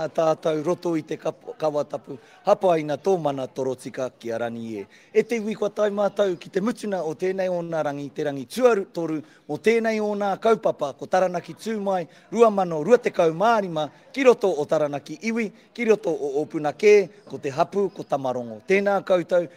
A tātou roto i te kawa tapu, hapaina tō mana torotika ki a Rani e. E te iwi kua tae mātou ki te mutunga o tēnei ōna rangi, te rangi tuatoru mō tēnei ōna kaupapa ko Taranaki Tū Mai 2025 ki roto o Taranaki iwi, ki roto o ō puna kē, ko te hapū ko Tamarongo. Tēnā koutou,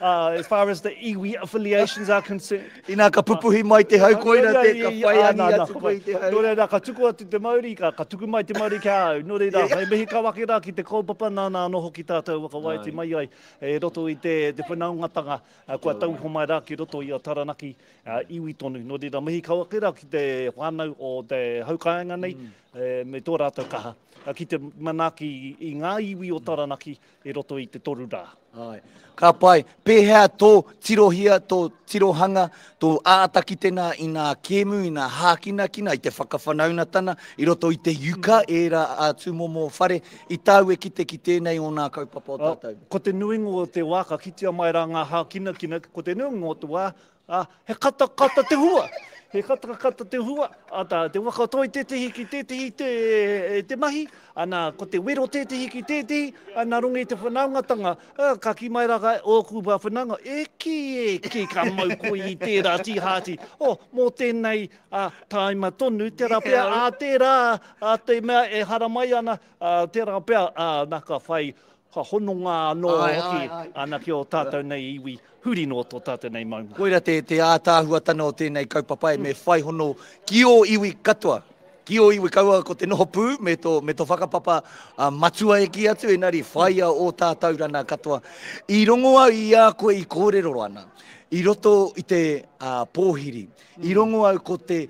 Uh, as far as the iwi affiliations are concerned. Ina ka pupuhi mai te hau koina te ka pai ani atu koe i te hau. Nō reira, ka tuku atu te mauri, ka, ka tuku mai te mauri ki a au. Nō reira, hei mihi ka wake rā ki te kaupapa nāna anō hoki tātou waka waiti mai ai e roto i te, te whanaungatanga uh, kua tau iho mai rā ki roto i a Taranaki uh, iwi tonu. Nō reira, mihi ka wake rā ki te whānau o te haukaenga nei, mm. e, me tō rātou kaha. Uh, ki te manaki i ngā iwi o Taranaki, i roto i te toru rā. Āe. Ka pai. Pēhea tō tirohia, tō tirohanga, tō ātakitena i nā kēmu, i nā hākinakina, i te whakawhanaunatana, i roto i te yuka, ērā ā tūmomo whare, i tāu e kite ki tēnei o nā kaupapa o tātou? Ko te nuinga o te wā, ka kitea mai rā ngā hākinakina, ko te nuinga o te wā, Ā, he katakata te hua, he katakata te hua, āta, te waka toi tētehi ki tētehi te, te mahi, ana, ko te wero tētehi ki tētehi, ana, runga i te whanaungatanga, ā, ka ki mai rā kai, ōku wā whanaunga, e kī, e kī, ka mau koe i tērā tīhāti, oh, mō tēnei, ā, tāima tonu, tērā pea, ā, tērā, ā, te mea e haramai ana, ā, tērā pea, ā, nā, ka whai, Ka hononga anō hoki ana ki ō tātou nei iwi huri nō tō tātou nei maunga. Koira te, te ātaahuatana o tēnei kaupapa e me whai hono ki ō iwi katoa ki o iwi kaua ko te noho pū me to me to whakapapa a matua e ki atu enari whaia o tātou rana katoa i rongo au i a koe i kōrero ana i roto i te uh, pōhiri i rongo au ko te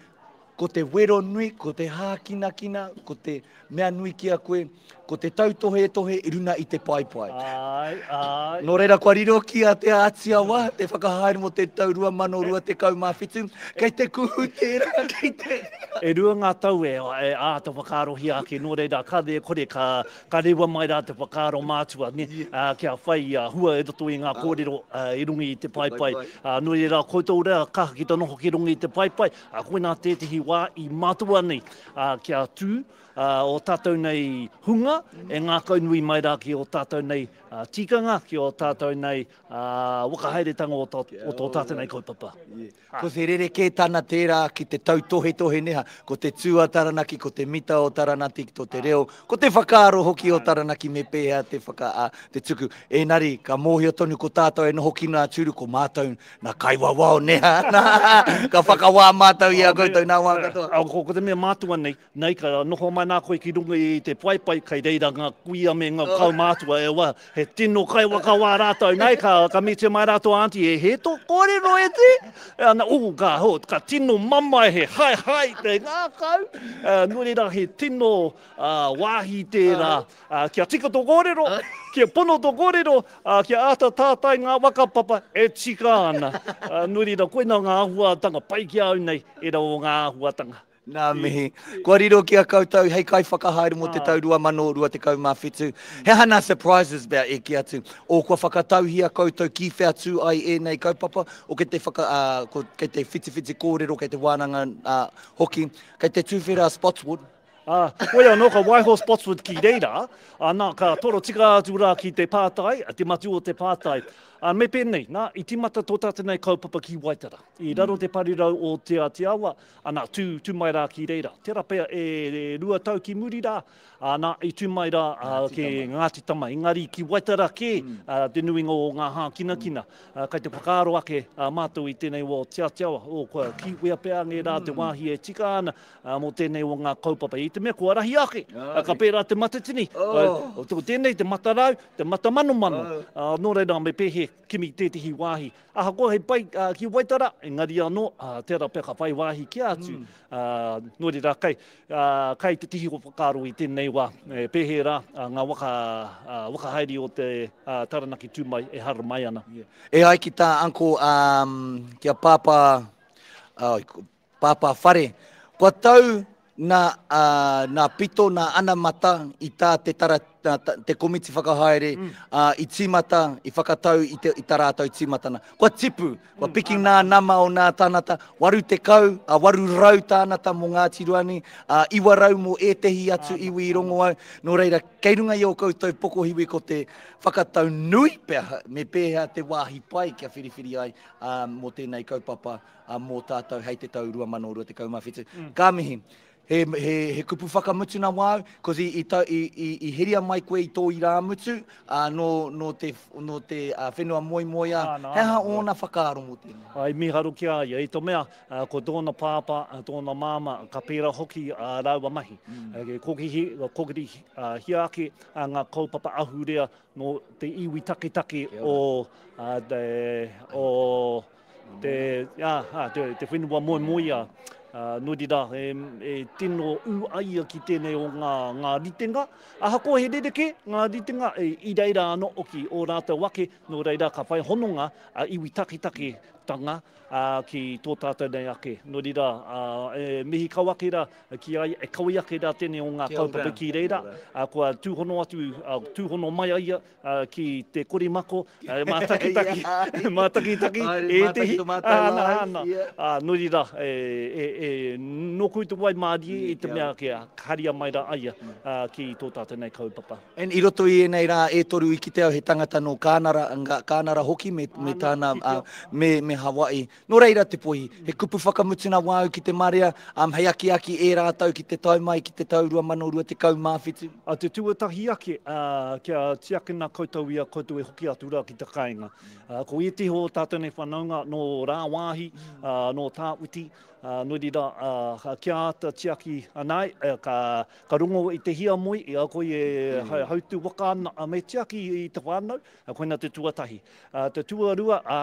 Ko te wero nui, ko te hākinakina, ko te mea nui ki a koe, ko te tautohetohe i runa i te paepae. Ai, ai. Nō reira, kua riro ki a Te Āti Awa, te whakahaere mō te tau 2027, kei te kuhu tērā, kei te... E rua ngā tau e, e āta whakaarohia ake, nō reira, kāre e kore ka, ka rewa mai rā te whakaaro mātua, nē, ā, kia whai a hua e roto i ngā kōrero ā, i runga i te paepae. Ā, nō reira, koutou rā, kaha ki te noho ki runga i te paepae, Ā, koinā tētehi wā i mātua nei kia tū ō tātou nei hunga e ngākaunui mai rā ki ō tātou nei tikanga, ki ō tātou nei whakahaeretanga o tō tātou nei kaupapa. Ko te rerekē tana tērā ki te tautohetohe neha, ko te tū a Taranaki, ko te mita o Taranati ki tō te reo, ko te whakaaro hoki o Taranaki me pēhea te tuku. Ēnari, ka mōhio tonu ko tātou e noho kino ā-tūru, ko mātou Na kai wawao neha, ka whakawā mātou i a koutou nā wā katoa. Ko, ko te mea mātua nei, nei ka noho mai nā koe ki runga i te paepae, kei reira ngā kuia me ngā kaumātua e wā, he tino kai whakawā rātou, nei ka, ka mitia mai rātou aunty, e he tō kōrero e te? E ana, ū, ka, ho, ka tino mamae he hai hai te ngākau, e, nō reira he tino uh, wāhi tērā, uh, Kia tika tō kōrero, kia pono tō kōrero, kia āta tātai ngā whakapapa e tika ana. Nō reira, koinā ngā āhuatanga pai ki a au nei, e rau o ngā āhuatanga. Nā mihi. Kua riro ki a koutou hei kaiwhakahaere mō te tau 2027. He aha nā surprises mea e kī atu? O kua whakatauhia koutou ki whea tū ai ēnei kaupapa, o kei te whaka, kei te whitiwhiti kōrero, kei te wānanga hoki, kei te tūwhera Spotswood. Ā, koia anō ka waiho Spotswood ki reira, ā, nā, ka torotika atu rā ki te pātai, te matū o te pātai. Ā, me pēnei, nā, i tīmata tō tātou nei kaupapa ki Waitara, i raro te parirau o Te Āti Awa, ā, nā, tū, tū mai rā ki reira. Tērā pea e rua tau ki muri rā, ā, nā, i tū mai rā ā, ki Ngāti Tama, engari ki Waitara kē ā, te nuinga o ngā hākinakina. Ā, kei te whakaaro ake ā, mātou i tēnei wā o Te Āti Awa, o kua kīwea pea ange rā te wāhi e tika ana, Ā, mō tēnei o ngā kaupapa, i te mea kua rahi ake, ka pērā te matatini, ko tēnei te matarau, te matamanomano, ā, nō reira me pēhea kimi tētehi wāhi. Ahakoa he pai ki Waitara, engari anō, ā, tērā pea ka whai wāhi ki a atu, ā, nō reira, kei, ā, kei te tihiko whakaaro i tēnei wā, e, pēhea rā ngā waka, ā, whakahaere o te, ā, Taranaki tū mai e hara mai ana. E ai ki tā Uncle, ā, ki a Pāpā, ā, Pāpā Whare, Kua tau nā, ā, nā Pito, nā Ana Mata i tā te tara, tā, tā, te komiti whakahaere, mm. ā, i tīmata, i whakatau i, te, i tā rātou tīmatana. Kua tipu, kua mm, piki nā nama o nā tānata, waru te kau, a waru rau tānata mō Ngāti Ruani, a iwa rau mō ētehi atu iwi i rongo au. Nō reira, kei runga i o koutou pokohiwi ko te whakatau nui, pea, me pēhea te wāhi pai kia whiriwhiri ai ā, mō tēnei kaupapa a mō tātou hei te tau 2027. Ka mihi. He, he, he kupu whakamutuna wāu, because i, i, i, i, i heria mai koe i tō irāmutu uh, no, no te, no te uh, whenua moimoia, ana, he aha ōna whakaaro mō tēnā? Ai miharo ki a ia, i to mea, uh, ko tōna pāpā, uh, tōna māma, ka pērā hoki uh, rāua mahi. Mm. Uh, kokihi, kokiri uh, hia ake uh, ngā kaupapa ahurea no te iwi taketake o, uh, the, o, Te, ah, ah, te, te whenua moemoea, uh, no rira e, e tino ū aia ki tēnei o ngā, ngā ritenga. Ahako he rereke ngā ritenga e, i reira anō oki o rātou ake, nō reira ka whai hononga a uh, iwi takitaki tanga uh, ki tō tātou nei ake. Nō rira, uh, e mihi kau ake ra, ki ai, e kawi ake ra tēnei o ngā kaupapa ki reira, uh, kua tūhono atu, uh, tūhono mai aia ki te korimako, e mātakitaki, mātakitaki, ētehi, āna, āna, ā, nui rā, e, e, e, nōku te wai mārie i te mea kia haria mai rā aia ki tō tātou nei kaupapa. And i roto i ēnei rā e toru i kite au he tangata nō Kānara, Kānara hoki me, me tāna, me, me Hawaii, Nō reira te pohi, he kupu whakamutunga wāu ki te marea, um, hei akiaki e rātou ki te tae mai ki te tau 2027. A te tuatahi ake, ā, kia tiakina koutou ia koutou e hoki atu rā ki te kāinga. Ā, ko ētehi o ō tātou nei whanaunga nō rāwāhi, ā, nō Tāwhiti, ā, nō reira, ā, kia āta tiaki ana ai, ā, ka, ka rongo i te hiamoe, i a koe e ha, hautū waka ana, ā, me tiaki i te whānau, ā, koina te tuatahi. Ā, te tuarua, ā,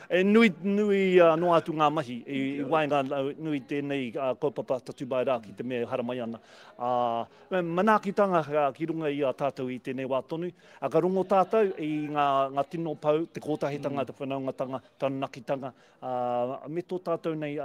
He nui, nui noa atu ngā mahi i waenga nui tēnei kaupapa Tatu Mai Rā ki te mea e haramai ana. Ā, manaakitanga ki runga i a tātou i tēnei wā tonu. Ka rongo tātou i ngā tino pou, te kōtahitanga, te whanaungatanga, taunakitanga, ā, me tō tātou nei,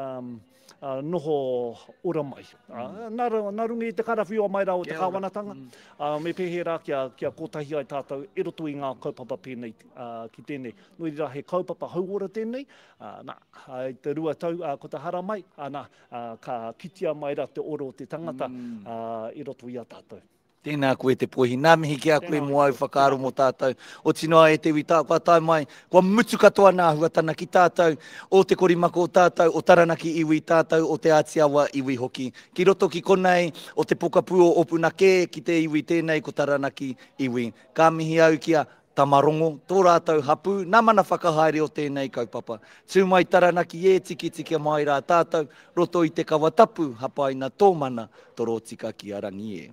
uh, noho ora mai. Uh, mm. nā, nā runga i te karawhi o mai rā o te kāwanatanga, mm. uh, me pehe rā kia, kia kōtahi ai tātou e roto i ngā kaupapa pēnei uh, ki tēnei. Nui rā he kaupapa hauora tēnei, uh, nā, uh, te rua tau uh, ko te hara mai, ana uh, ka kitia mai rā te oro o te tangata mm. uh, i roto i a tātou. Tēnā koe te poihi. Nā mihi ki a koe mō au whakaaro mō tātou. O tinoa e te wita, kua tae mai, kua mutu katoa nā huatana ki tātou, o te korimako o tātou, o Taranaki iwi tātou, o Te Āti Awa iwi hoki. Ki roto ki konei, o te pokapū o Opuna kē ki te iwi tēnei ko Taranaki iwi. Ka mihi au ki a Tama Rongo, tō rātou hapū, nā mana whakahaere o tēnei kaupapa. Tū mai Taranaki e tikitika mai rā tātou, roto i te kawa tapu, hapaina tō mana, torotika ki a Rangi e.